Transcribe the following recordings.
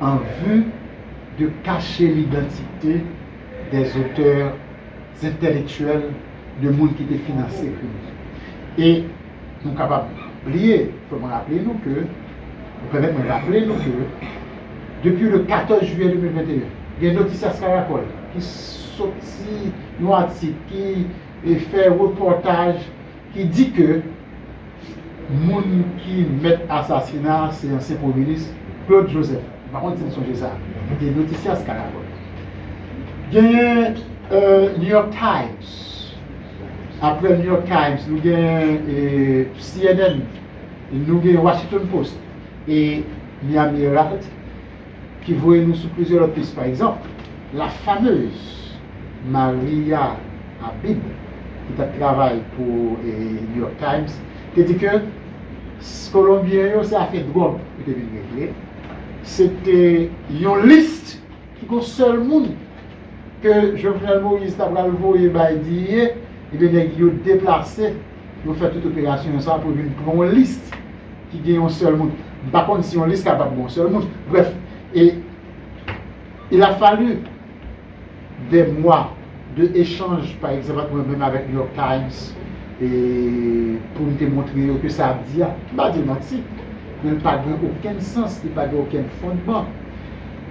an vi de kache lidantite dè zotè zentèlektyèl de moun ki te finanse krim nan. E nou kapab bliye, fò mwen raple nou ke, nou pèmèt mwen raple nou ke, depi le 14 jiyè 2021, gen Noticias Caracol ki soti yon atik ki fè repòtaj, ki di ke moun ki mèt asasina se ansyen premye minis Claude Joseph, m pa konn si n sonje sa, li te notisyas Caracol. Genyen New York Times, apre New York Times nou gen CNN, nou gen Washington Post e Miami Herald. Ki voye nou sou plizyè lòt pis, pa egzanp, la fameuse Maria Abib, ki t ap travay pou New York Times, te di ke Kolonbyen yo se afè dwòg yo te vin regle, se te yon list ki gon sèl moun ke Jovenel Moïse ta pral voye bay Digne, ebyen nèg yo deplase. Yo fè tout operasyon sa pou vin pran yon lis ki gen yon sèl moun. M pa konn si yon lis kapab gen yon sèl moun. Brèf, e il a fallu dè mwa de echanj pa egzanp ant mwen menm avèk New York Times e pou m te montre yo ke sa ap di a, m pa di l manti, men l pa gen okenn sans, li pa gen okenn fondman.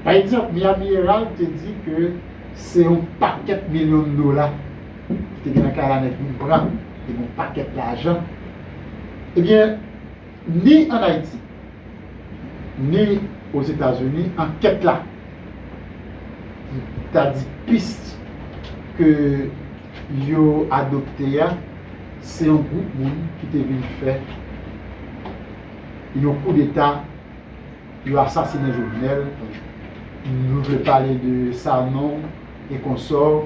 Pa egzanp, Miami Herald te di ke se yon pakèt milyon dola. ki te gen yon kalanèg moun blan ki te gen yon pakèt lajan, ebyen, ni ann Ayiti, ni Ozetazini, ankèt la ta di pis ke yo adopte a, se yon gwoup moun ki te vin fè yon koudeta, yo asasinen Jovenel, nou vle pale de Sanon e konsò.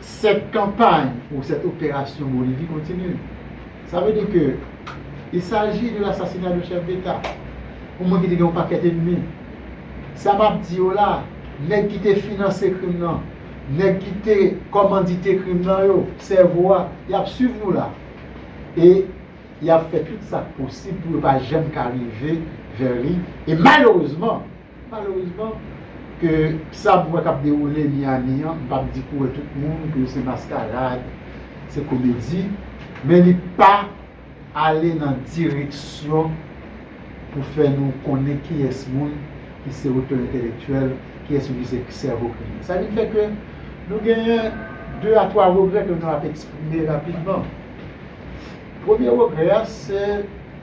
Cette campagne ou cette opération Bolivie continue. Sa vle di ke il s'agit de l'assassinat d'un chef d'Etat. Pou mwen ki te gen yon pakèt enmi. Sa m ap di yo la, nèg ki te finanse krim nan, nèg ki te kòmandite krim nan yo, sèvo a, y ap swiv nou la. E y ap fè tout sa k posib pou yo pa janm ka rive vè li. E malerezman! Malerezman, ke sa m wè k ap dewoule Miyami an, m p ap di pou wè tout moun ke se maskarad, se komedi, men li pa ale nan direksyon pou fè nou konnen kiyès moun ki se otè entelektyèl, kiyès moun ki se sèvo kriminèl. Sa vin fè ke nou genyen de a twa regrè ke nou ap eksprime rapidman. Premye regrè a, se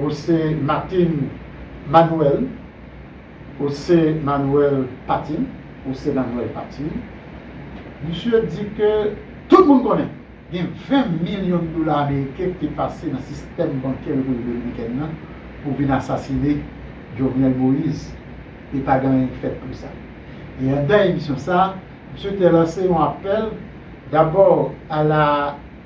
Ou se Martin Manuel Ou se Manuel Patin Ou se Manuel Patin Misye di ke tout moun konnen gen 20 milyon dola ameriken ki te pase nan sistèm bankè Repiblik Dominikèn nan pou vin asasine Jovenel Moise e pa gen anyen ki fèt pou sa. E anndan emisyon sa a, misye te lanse yon apèl dabò a la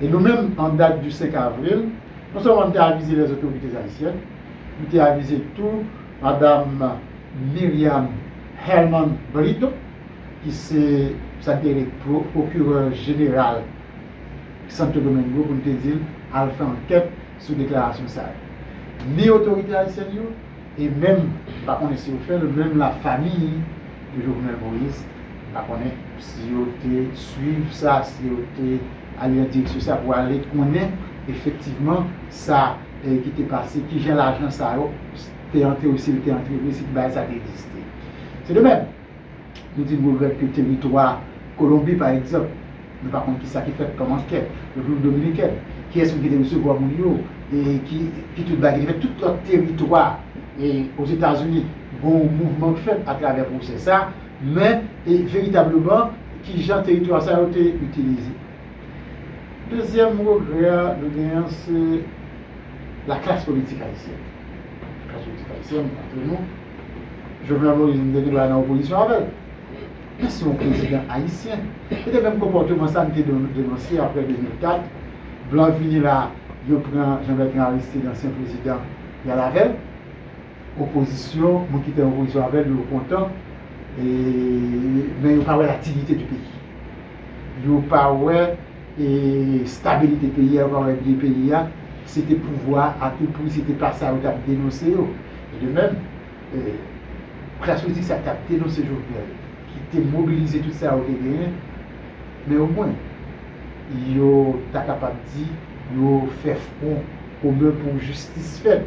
E nou menm, an dat du 5 avril, non sèlman nou te avize les autorités haïtiennes, nou te avize tou madam Myriam Herman Brito, ki se sa ki rele procureur général Santo Domingo pou nou te di l al fè ankèt sou deklarasyon sa yo. Ni otorite ayisyèn yo, E menm pa konnen si yo fèl menm la famiy de Jovenel Moïse pa konnen si yo te swiv sa si yo te ale nan direksyon sa pou ale konnen efektivman sa ki te pase kijan lajan sa yo te antre si yo te antre vre si bagay sa te egziste. Se de menm. Nou di nou regrèt ke teritwa Kolonbi pa egzanp, nou pa konn kisa ki fèt kòman kè Repiblik Dominikèn, kiyès menm ki te resevwa moun yo, e ki ki tout bagay ki te fèt, tout lòt teritwa e Ozetazini gon yon mouvman k fèt atravè pwosè sa, men e veritableman kijan teritwa sa yo te itilize. Dezyèm regrè a nou gen an se laklas politik ayisyèn. Klas politik ayisyèn antre nou. Jovenel Moïse m te gen dwa nan opozisyon avè l. Men se yon prezidan ayisyen. E te menm konpòteman sa m te denonse aprè 2004. Blan vini la, yo pran Jean Bertrand Aristide, ansyen prezidan, y al avè l. Opozisyon, moun ki te nan opozisyon avè l yo kontan. E men yo pa wè laktivite di peyi. Yo pa wè. e stabilite peyi a, yo pa wè byen peyi a, se te pouvwa a tou pri, se te pa sa yo t ap denonse yo. E de mèm, klas politik sa a k ap denonse Jovenel, ki te mobilize tout sa yo te genyen, men omwen, yo ta kapab di, yo fè fwon komen pou jistis fèt.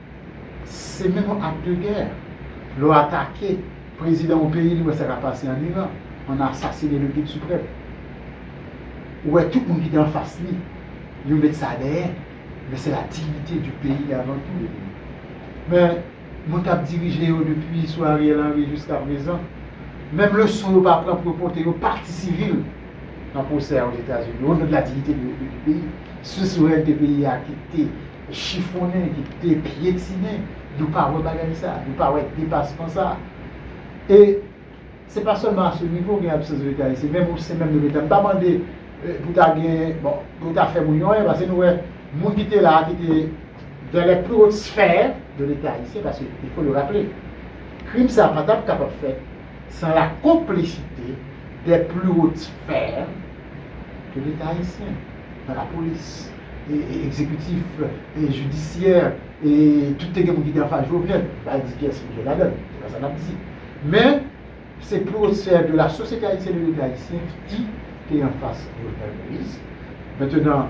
Se menm yon ak de gè. Lè w atake prezidan yon peyi li wè sa k ap pase an Iran, an asasine le guide supreme. Ou wè tout moun ki te anfas li, yo met sa dèyè. Men se la dignite di peyi avan tou. Men moun k ap dirije yo depi sou Ariel Henry jiska prezan, menm leson yo pa pran pou yo pote yo pati sivil nan pwosè a Ozetazini, o non de la dignite di peyi. Sou reyalite peyi a ki te. chifonnen, ki te pyetinen, yo pa wè bagay sa, yo pa wè depasman sa. E se pa sèlman a se nivo gen absans de leta isi, menm osen menm de leta, m pa mande pou ta gen, bon, pou ta fè moun yo anyen, pase nou wè moun ki te la a, ki te dan lè pli wot sfè de leta ayisyen, pase il fo le raple, krim sa pa tap kapab fèt san la konplisite dè pli wot sfè de leta ayisyen, nan lapolis. Ekzekitif, jidisyè, tout te gen moun ki te anfas Jovenel. M pa di kiyès ki te ladan l, se pa sa n ap di. Men, se pwosè de la sosyete ayisyèn e de leta ayisyen ki te anfas Jovenel Moïse. Mentenan,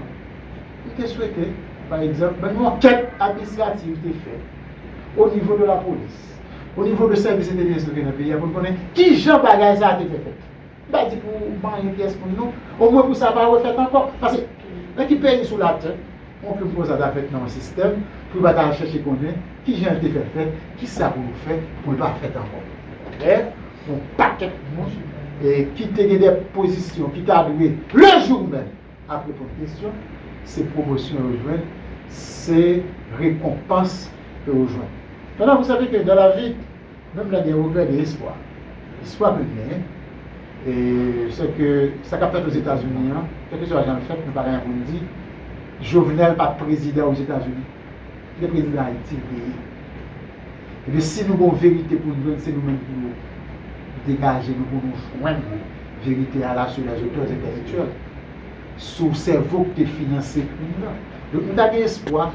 li te swete, pa egzanp, yon ankèt administrativ te fèt o nivo de lapolis, o nivo de sèvis entelijans ki te nan peyi a pou n konnen ki jan bagay sa a te fè fèt. M pa di pou manyen pyès moun non, omwen pou sa pa refèt ankò. Pase, nan ki peyi sou latè yon krim konsa ta fèt nan yon sistèm pou yo pa ta al chèche konnen ki jan l te fèk fèt, ki sa pou yo fè pou l pa fèt ankò? Lè yon pakèt moun ki te gen dè pozisyon ki ta dwe lejou menm. ap reponn kesyon, se pwomosyon yo jwenn, se rekonpans ke yo jwenn. Pandan vou save ke dan lavi, menm lè gen regrè gen espwa. Espwa ke n genyen, se ke sa k ap fèt Ozetazini an, kèlkeswa jan l fèt, nou pa genyen pou n di, Jovenel pa t prezidan Ozetazini. Kite prezidan ayiti veye. Epi si nou gon verite pou nou jwenn se nou menm pou nou degaje nou pou nou jwenn verite a la sou les auteurs intellectuels sou sèvo ki te finanse krim nan. Donk nou ta gen espwa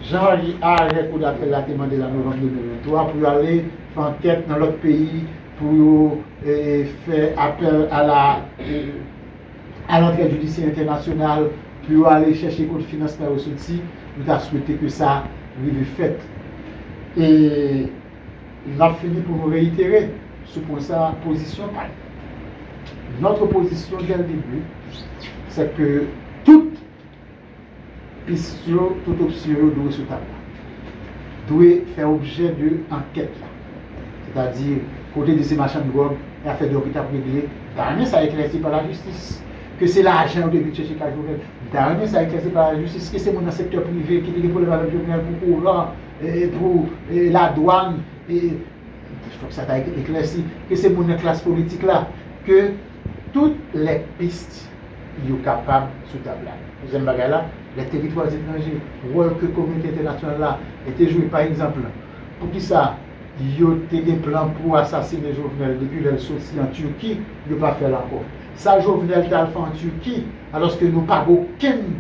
jan arè kou dapèl la te mande l an novanm 2023 pou yo ale fè ankèt nan lòt peyi pou yo fè apèl a la a lantrèd jidisyè entènasyonal pou yo ale chèche kote finansman yo soti, nou ta swete ke sa rive fèt. E n ap fini pou nou reyitere sou pwen sa a pozisyon pa nou. Notre position dès le début, c'est que tout Pist yo, tout opsyon yo dwe sou tab la. Dwe fè objè de ankèt la. Sètadi, kote dosye machann dwòg e afè dwòg yo t ap regle, m ta renmen sa eklèsi pa lajistis. Ke se lajan yo te vin chèche kay Jovenel, m ta renmen sa eklèsi pa lajistis. Ke se moun nan sektè prive ki te gen pwoblèm avèk Jovenel pou kouran, pou ladwàn, fòk sa ta eklèsi. Ke se moun nan klas politik la. Tout lè pist yo kapab sou tab la. Dezyèm bagay la, lè teritwa etranje, wòl ke kominote entènasyonal la te jwe pa egzanp, poukisa yo te gen plan pou asasine Jovenel depi lè l soti an Turquie, yo pa fè l ankò? Sa Jovenel t al fè an Turquie alòske nou pa gen okenn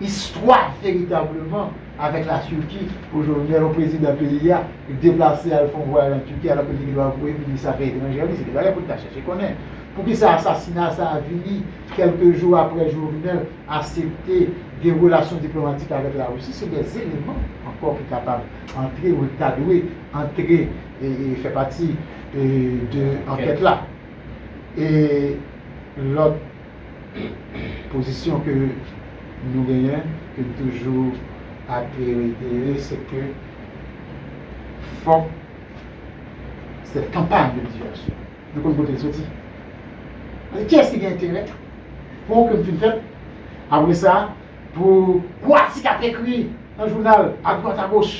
Istwa veritableman avèk la Turki pou Jovenel yon prezidan peyi a deplase al fè yon vwayaj an Turki alòke li te dwa voye minis afè etranjè li se te bagay pou n ta chèche konnen poukisa asasina sa a vini kèlke jou aprè Jovenel asepte gen relasyon diplomatik avèk la Russie se de eleman ankò ki kapab antre ou ta dwe antre e fè pati de ankèt la e lòt. Pozisyon ke nou genyen, ke m toujou ap reitere, se ke fòk sèt kanpay de divèsyon, nou konn kote l soti. Ki yès ki gen enterè pou ke m fin fèt, apre sa, pou gwo atik ap ekri nan jounal, adwat agoch,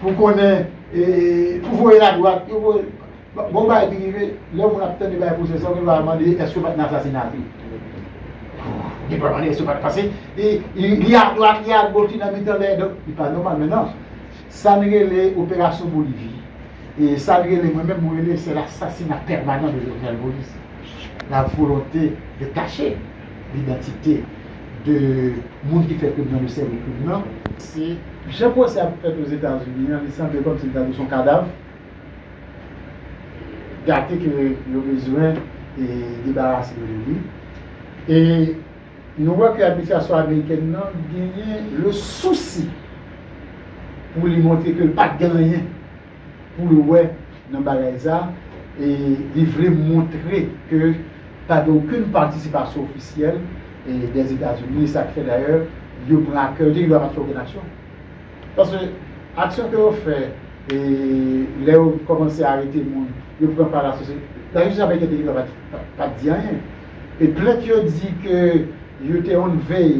pou konnen, pou voye l adwat, pou voye l. Gon bagay ki rive lè moun ap tande bagay pwosè sa gen dwa mande èske yo pat nan asasina tou gen dwa mande èske yo pat pase li adwat li agòch li nan mitan lè donk li pa nòmal mennan sa n rele operasyon bolivi e sa n rele mwen menm mwen rele se l asasina pèmanan de Jovenel Moïse la volonte de kache lidantite de moun ki fè krim nan de sèvo krim nan. Jan pwosè a fèt ozetazini an li sanble kòmsi li ta dwe son kadav. gate ke yo bezwen debarase yo de li. E nou wè ke administrasyon amerikèn nan genyen le sousi pou li montre ke li pa gen anyen pou l wè nan bagay sa a, e li vle montre ke pa gen okenn patisipasyon ofisyèl dèzetazini, e sa k fè dayè yo pran ak kè, yo te gen dwa pa t fè okenn aksyon. Paske aksyon ke yo fè lè yo kòmanse arete moun, yo pran pa lasosyete. Lajistis amerikèn te gentan pa t di anyen. E plent yo di ke yo te on vèy,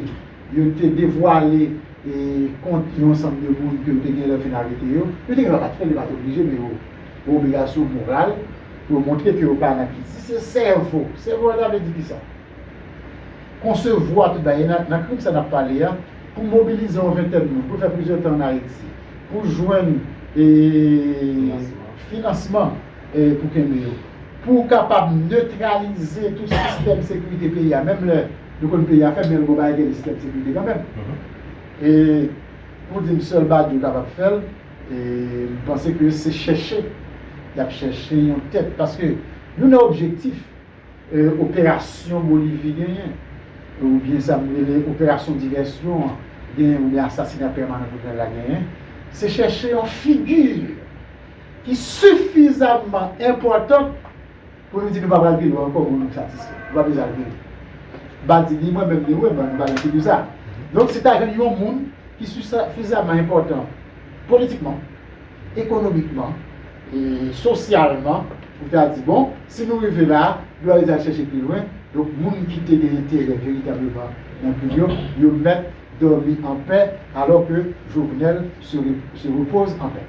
yo te devwale kont yon ansanm de moun ke yo te genlè fin arete yo, yo te gentan pa t fè l, yo pa t oblije, men yo gen obligasyon moral pou yo montre ke yo pa nan kit. Si se sèvo, sèvo a ta vle di kisa? konsevwa tout bagay, e nan krim sa n ap pale a, pou mobilize yon ventèn moun, pou l fè plizyè tan ann Ayiti, pou l jwenn finansman pou kenbe yo, pou l kapab netralize tout sistèm sekirite peyi a, menm lè nou konn peyi a fèb, men bon bagay gen yon sistèm sekirite kanmenm, e pou di m sèl Badio kapab fè l, e m panse ke se chèche y ap chèche yon tèt, paske nou nan objektif. Operasyon Bolivi genyen, ou byen sa m rele operasyon divèsyon an genyen, ou byen asasina pèmanan Jovenel la genyen, se chèche yon figi ki sifizamman enpòtan pou nou di nou pa pral pi lwen ankò pou nou satisfè. Nou pa bezwen al pi lwen. Badi ni mwen menm ni ou menm nou pa gen figi sa. Donk si ta jwenn yon moun ki sifizamman enpòtan politikman, ekonomikman, sosyalman, pou ta di bon, si nou rive la, dwa yo te al chèche pi lwen, donk moun ki te gen enterè veritableman nan peyi yo, yo mèt dòmi anpè, alò ke Jovenel se repose en paix.